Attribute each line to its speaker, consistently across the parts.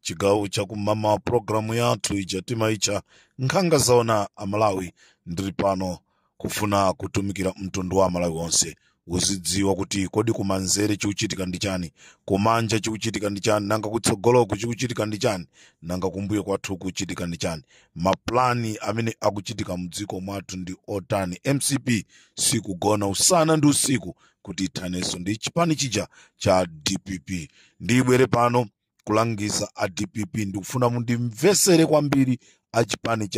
Speaker 1: chigawo chakumama pulogalamu yathu ija timaitcha nkhanga zaona amalawi ndili pano kufuna kutumikira mtundu wa amalawi onse uzidziwa kuti kodi kumanzere chikuchitika ndi chani kumanja chikuchitika ndi chani nanga kutsogoloku chikuchitika ndi chani nanga kumbuyo kwathu kuchitika ndi chani mapulani amene akuchitika mdziko mwathu ndi otani mcp sikugona usana ndi usiku kuti ithanenso ndi chipani chija cha dpp ndibwere pano kulangiza a dpp ndikufuna mundimvesere kwambiri a chipani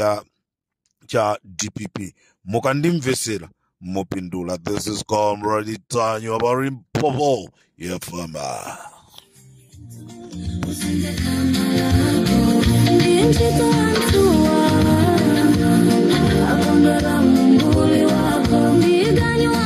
Speaker 1: cha dpp mukandimvesera mupindula this is comrade ntanyiwa pa limpopo fm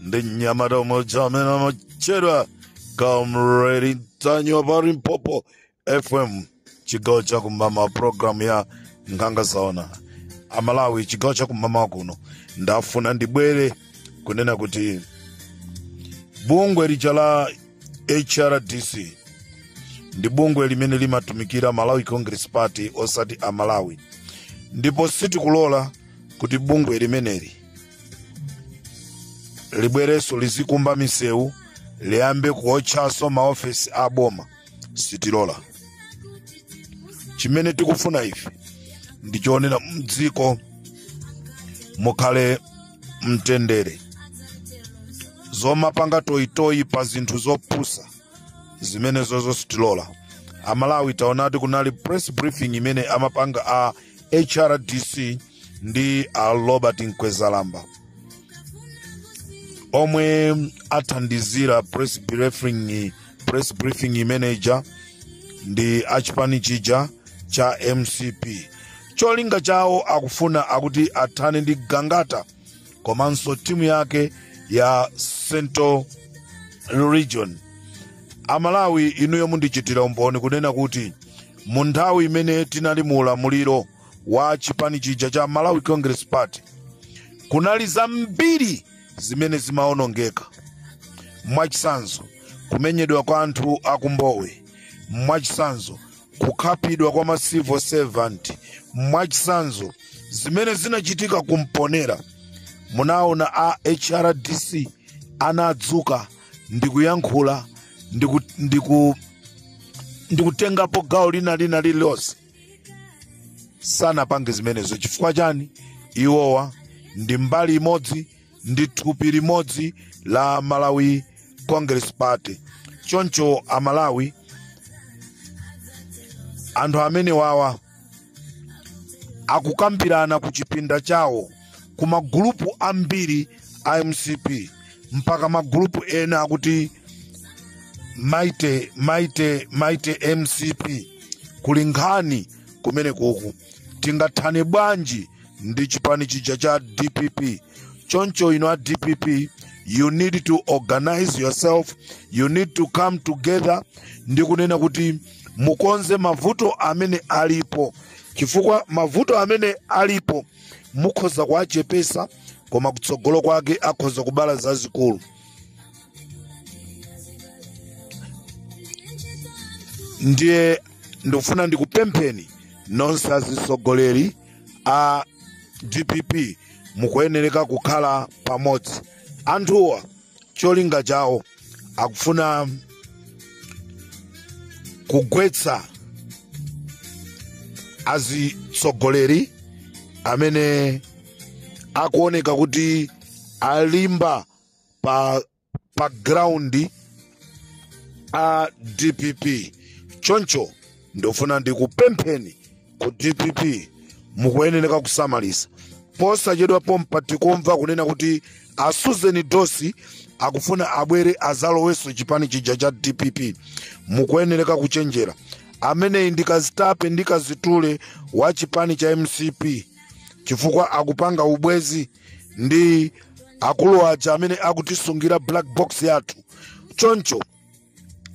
Speaker 1: ndi mnyamata umodzi amene amatchedwa comrade ntanyiwa pa limpopo fm chigawo cha kumama programu ya nkhanga zaona amalawi chigawo cha kumama kuno ndafuna ndibwere kunena kuti bungwe lija la hrdc ndi bungwe limene limatumikira malawi congress party osati amalawi ndipo sitikulola kuti bungwe limeneli libwerenso lizikumba misewu liyambe kuotchanso maofesi a boma sitilola chimene tikufuna ife ndichonena mdziko mukhale mtendere zomapanga toyitoyi pa zinthu zopusa zimenezozo sitilola amalawi taonati kunali press briefing imene amapanga a hrdc ndi a robert mkwezalamba omwe athandizira press briefing imeneija ndi achipani chija cha mcp cholinga chawo akufuna akuti athane ndi gangata komanso timu yake ya central region amalawi inuyo mundichitira umboni kunena kuti mu nthawi imene tinali mu ulamuliro wa chipani chija cha malawi congress party kunali zambiri zimene zimaonongeka mwachitsanzo kumenyedwa kwa anthu a ku mbowe mwachitsanzo kukhapidwa kwa ma civil servant mwachitsanzo zimene zinachitika ku mponela munaona a hrdc anadzuka ndikuyankhula ndikutengapo gawo lina lina lililonse sanapange zimenezo chifukwa chani iwowa ndi mbali imodzi ndi thupi limodzi la malawi congress party choncho amalawi anthu amene wawa akukambirana ku chipinda chawo ku magulupu ambiri a mcp mpaka magulupu ena akuti maite maite mcp kuli nkhani kumene kuku tingathane bwanji ndi chipani chija cha dpp choncho inu a dpp you need to organize yourself you need to come together ndi kunena kuti mukonze mavuto amene alipo chifukwa mavuto amene alipo mukhoza kuwachepesa koma kutsogolo kwake akhoza kubala zazikulu ndiye ndikufuna ndikupempheni nonse azitsogoleri a dpp mukuyenereka kukhala pamodzi anthuwa cholinga chawo akufuna kugwetsa azitsogoleri amene akuoneka kuti alimba pa ground a dpp choncho ndofuna ndikupempheni ku dpp mukuyenereka kusamalitsa posachedwa pompa tikumva kunena kuti a susan dosi akufuna abwere azalowenso chipani chija cha dpp mukuyenereka kuchenjera ameneyi ndi kazitape ndi kazitule wa chipani cha mcp chifukwa akupanga ubwezi ndi akulu aja amene akutisungira black box yathu choncho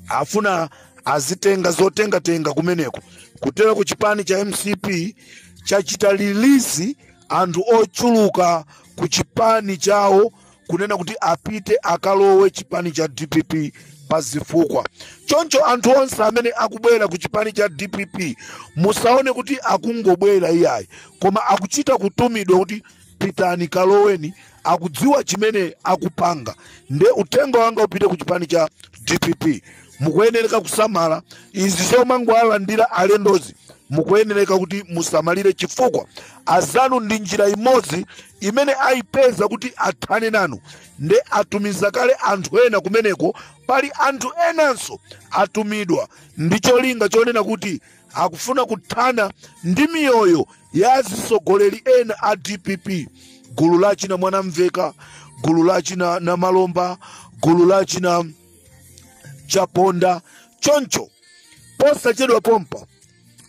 Speaker 1: afuna azitenga zotengatenga kumeneko kutera ku chipani cha mcp chachita release anthu ochuluka ku chipani chawo kunena kuti apite akalowe chipani cha dpp pa zifukwa choncho anthu onse amene akubwera ku chipani cha dpp musaone kuti akungobwera iyayi koma akuchita kutumidwa kuti pitani kaloweni akudziwa chimene akupanga nde uthenga wanga upite ku chipani cha dpp mukuyenereka kusamala izi zomangoalandira alendozi mukuyenereka kuti musamalire chifukwa azanu ndi njira imodzi imene ayipeza kuti athane nanu nde atumiza kale anthu ena kumeneko pali anthu enanso atumidwa ndi cholinga chonena kuti akufuna kuthana ndi miyoyo ya azitsogoleri ena a dpp gulu la achina mwanamveka gulu la achina namalomba gulu la achina chaponda choncho posachedwa pompa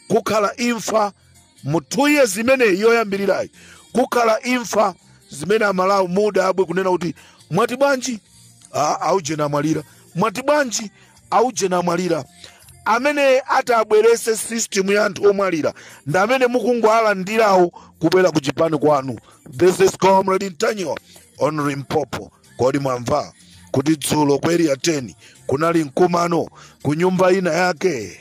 Speaker 1: kukhala imfa mu two years imeneyi yoyambirirayi kukhala imfa zimene amalawi mudabwe kunena kuti mwati bwanji Ah, aujeni amwalira mwati bwanji aujeni amwalira amene atabwerese system ya anthu omwalira ndi amene mukungowalandirawo kubwera ku chipani kwanu this is comrade ntanyiwa on limpopo kodi mwamva kuti dzulo ku area 10 kunali mkumano ku nyumba ina yake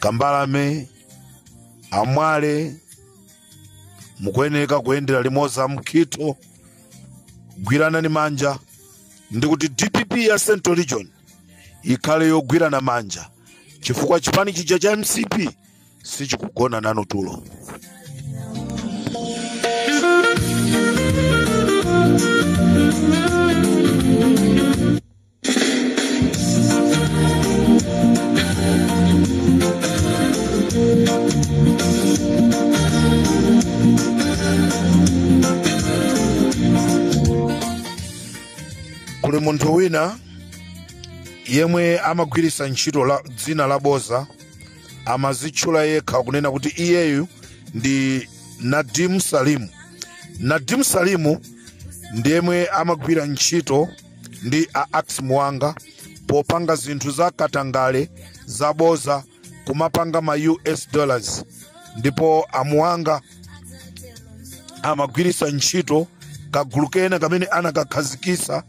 Speaker 1: kambalame a mwale mukuyeneka kuyendera limodzi a mukhito gwiranani manja ndi kuti dpp ya central region ikhale yogwirana manja chifukwa chipani chija cha mcp sichikugona nanu tulo kuli munthu wina yemwe amagwiritsa ntchito la, dzina la boza amazitchula yekha kunena kuti iyeyu ndi nadim salimu nadim salimu ndiyemwe amagwira ntchito ndi a ax muwanga popanga zinthu za katangale zaboza kumapanga ma us dollars ndipo a muwanga amagwiritsa ntchito kagulu kena kamene anakakhazikitsa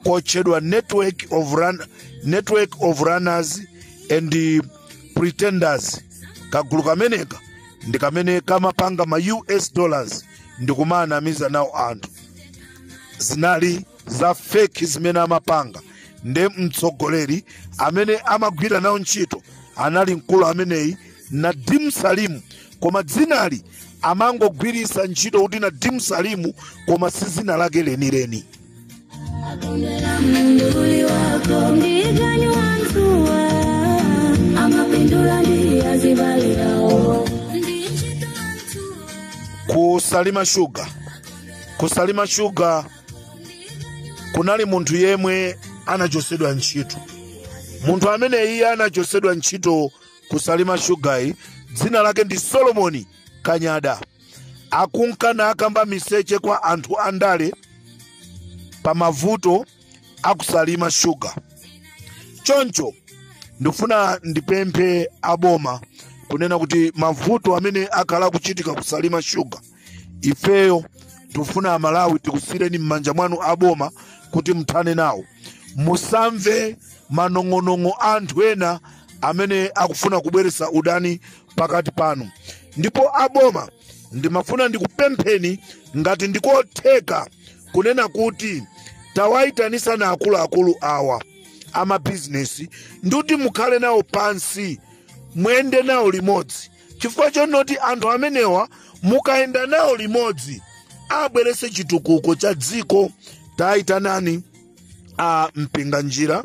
Speaker 1: kotchedwa network of, run, network of runners and eh, pretenders kagulu kameneka ndi kamene kamapanga ma us dollars ndi kumanamiza nawo anthu zinali za feki zimene amapanga nde mtsogoleri amene amagwira nawo ntchito anali mkulu ameneyi nadim salimu koma dzinali amangogwiritsa ntchito kuti nadim salimu koma si dzina lake lenileni Mduli wako mdigani wa mtua amapindula ndi azibale awo ndichita mtua ku salima sugar ku salima sugar kunali munthu yemwe anachosedwa ntchito munthu amene iye anachosedwa ntchito kusalima shugayi dzina lake ndi solomoni kanyada akunka naakamba miseche kwa anthu andale pa mavuto akusalima shuga choncho ndikufuna ndipemphe aboma kunena kuti mavuto amene akhala akuchitika kusalima shuga ifeyo tikufuna amalawi tikusiyireni m'manja mwanu aboma kuti muthane nawo musamve manong'onong'o a anthu ena amene akufuna kubweretsa udani pakati panu ndipo aboma ndimafuna ndikupempheni ngati ndikotheka kunena kuti tawayitanisani akuluakulu awa amabizinesi ndikuti mukhale nawo pansi mwende nawo limodzi chifukwa chonoti anthu amenewa mukayenda nawo limodzi abwerese chitukuko cha dziko tayitanani a mpinganjira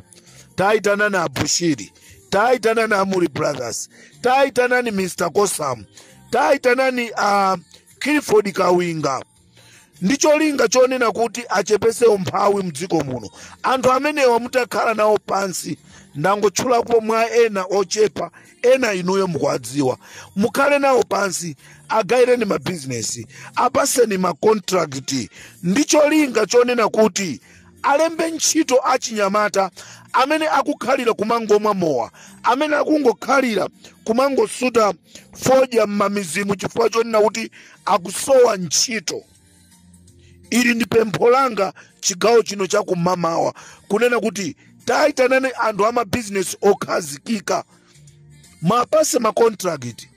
Speaker 1: tayitanani a bushiri tayitanani a mulli brothers tayitanani mr kosam tayitanani a clifford kawinga ndi cholinga chonena kuti achepese umphawi mdziko muno anthu amenewa mutakhala nawo pansi ndangotchulapo mwa ena ochepa ena inuyo mukuwadziwa mukhale nawo pansi agayireni mabizinesi apaseni makontrakiti ndi cholinga chonena kuti alembe ntchito achinyamata amene akukhalira kumangomwa mowa amene akungokhalira kumangosuta fodya m'mamizimu chifukwa chonena kuti akusowa ntchito ili ndi pempho langa chigawo chino cha kumamawa kunena kuti tayitanani anthu a mabizinesi okhazikika mwapase makontrakiti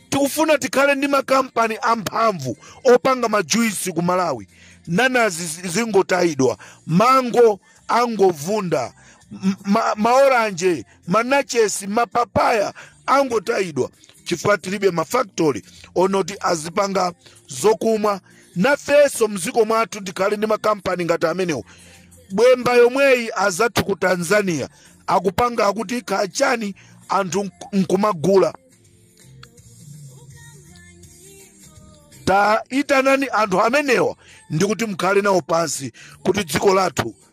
Speaker 1: tikufuna tikhale ndi makampani amphamvu opanga majuisi ku malawi nanazi zingotayidwa mango angovunda maoranje manachesi mapapaya angotayidwa chifukwa tilibe mafaktori onoti azipanga zokumwa nafenso mdziko mwathu tikhale ndi makampani ngati amenewo bwemba yomweyi azathu ku tanzania akupanga akuti kachani anthu nkumagula tayitanani anthu amenewa ndikuti mukhale nawo pansi kuti dziko lathu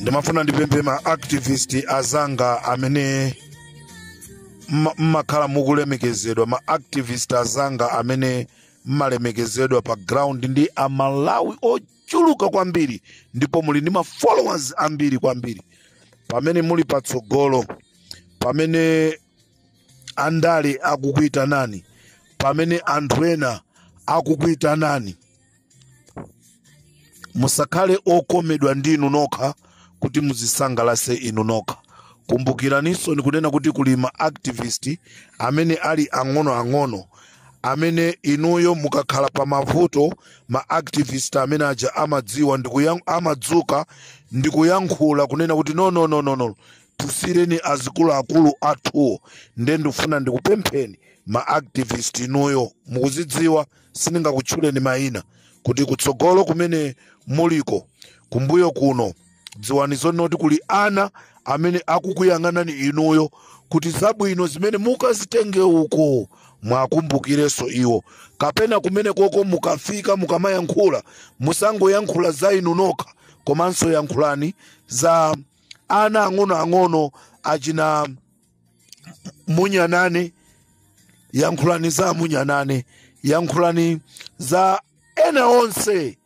Speaker 1: ndimafuna ndipemphe ma activist azanga amene mma- mmakhala mukulemekezedwa ma activist azanga amene mmalemekezedwa pa ground ndi amalawi ochuluka kwambiri ndipo muli ndi ma followers ambiri kwambiri pamene muli patsogolo pamene andale akukuitanani pamene anthu ena akukuitanani musakhale okomedwa ndi inu nokha kuti muzisangalase inu nokha kumbukiraninsoni kunena kuti kuli ma activist amene ali ang'onoang'ono amene inuyo mukakhala pa mavuto ma activist amene aja amadziwa amadzuka ndikuyankhula kunena kuti no no no no no tulutsireni azikuluakulu athuwo nde ndikufuna ndikupempheni ma activist inuyo mukuzidziwa sindingakutchuleni mayina kuti kutsogolo kumene muliko kumbuyo kuno dziwani zonena kuti kuli ana amene akukuyang'anani inuyo kuti zabwino zimene mukazitenge uko mwakumbukireso iwo kapena kumene koko mukafika mukamayankhula musangoyankhula za inu nokha komanso yankhulani za ana ang'onoang'ono achina munyanane yankhulani za munyanane yankhulani za ena onse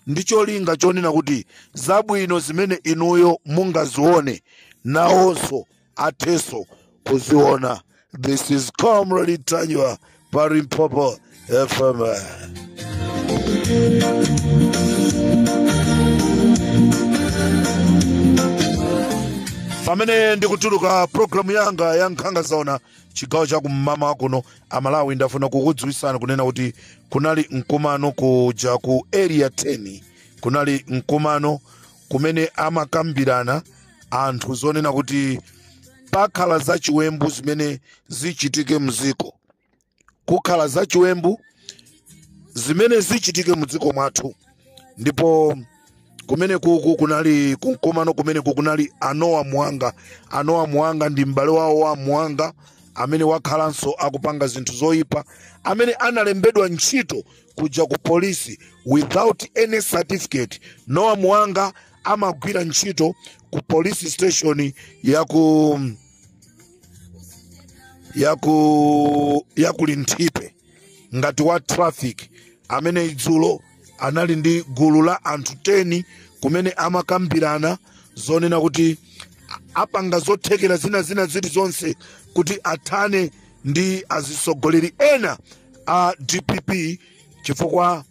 Speaker 1: ndi cholinga chonena kuti zabwino zimene inuyo mungazione nawonso athenso kuziona this is comrade ntanyiwa Pa Limpopo FM. pamene ndikutuluka programu yanga ya nkhanga zaona chigawo cha kum'mawa kuno amalawi ndafuna kukudziwitsani kunena kuti kunali mkumano kuja ku area 10 kunali mkumano kumene amakambirana anthu zonena kuti pakhala zachiwembu zimene zichitike mdziko kukhala zachiwembu zimene zichitike mdziko mwathu ndipo kumene kuku kunali kumkomano kumene kukunali a noah muhanga a noah muhanga ndi m'bale wawo wa muhanga amene wakhalanso akupanga zinthu zoyipa amene analembedwa ntchito kuja ku polisi without any certificate noah muhanga amagwira ntchito ku police station ya ku ya ku ya ku linthipe ngati wa traffic amene idzulo anali ndi gulu la anthu 10 kumene amakambirana zonena kuti a- apanga zothekera zinazina zilizonse kuti athane ndi azitsogoleri ena a dpp chifukwa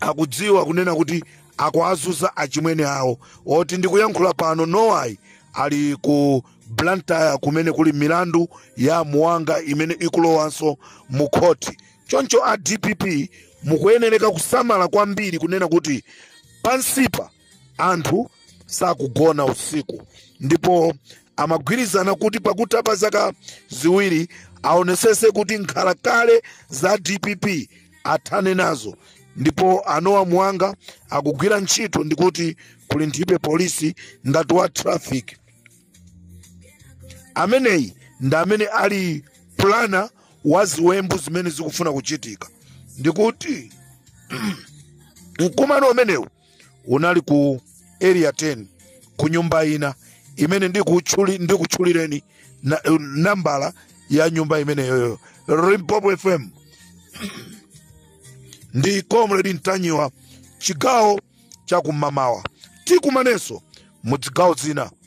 Speaker 1: akudziwa kunena kuti akuwazunza achimwene awo oti ndikuyankhula pano nowa ali ku blantyre kumene kuli milandu ya muwanga imene ikulowanso mu khoti choncho a dpp mukuyenereka kusamala kwambiri kunena kuti pansipa anthu sakugona usiku ndipo amagwirizana kuti pakutha pa zaka ziwiri aonesese kuti nkhalakale za dpp athane nazo ndipo a nowa muwanga akugwira ntchito ndikuti ku linthipe polisi ngati wa traffic ameneyi ndi amene ali plana wa ziwembu zimene zikufuna kuchitika ndikuti mkumano umenewu unali ku area 10 ku nyumba ina imene ndikutchulireni nambala ya nyumba imeneyoyo limpopo fm ndi comrade ntanyiwa chigawo chakumamawa tikumanenso mu zigawo zina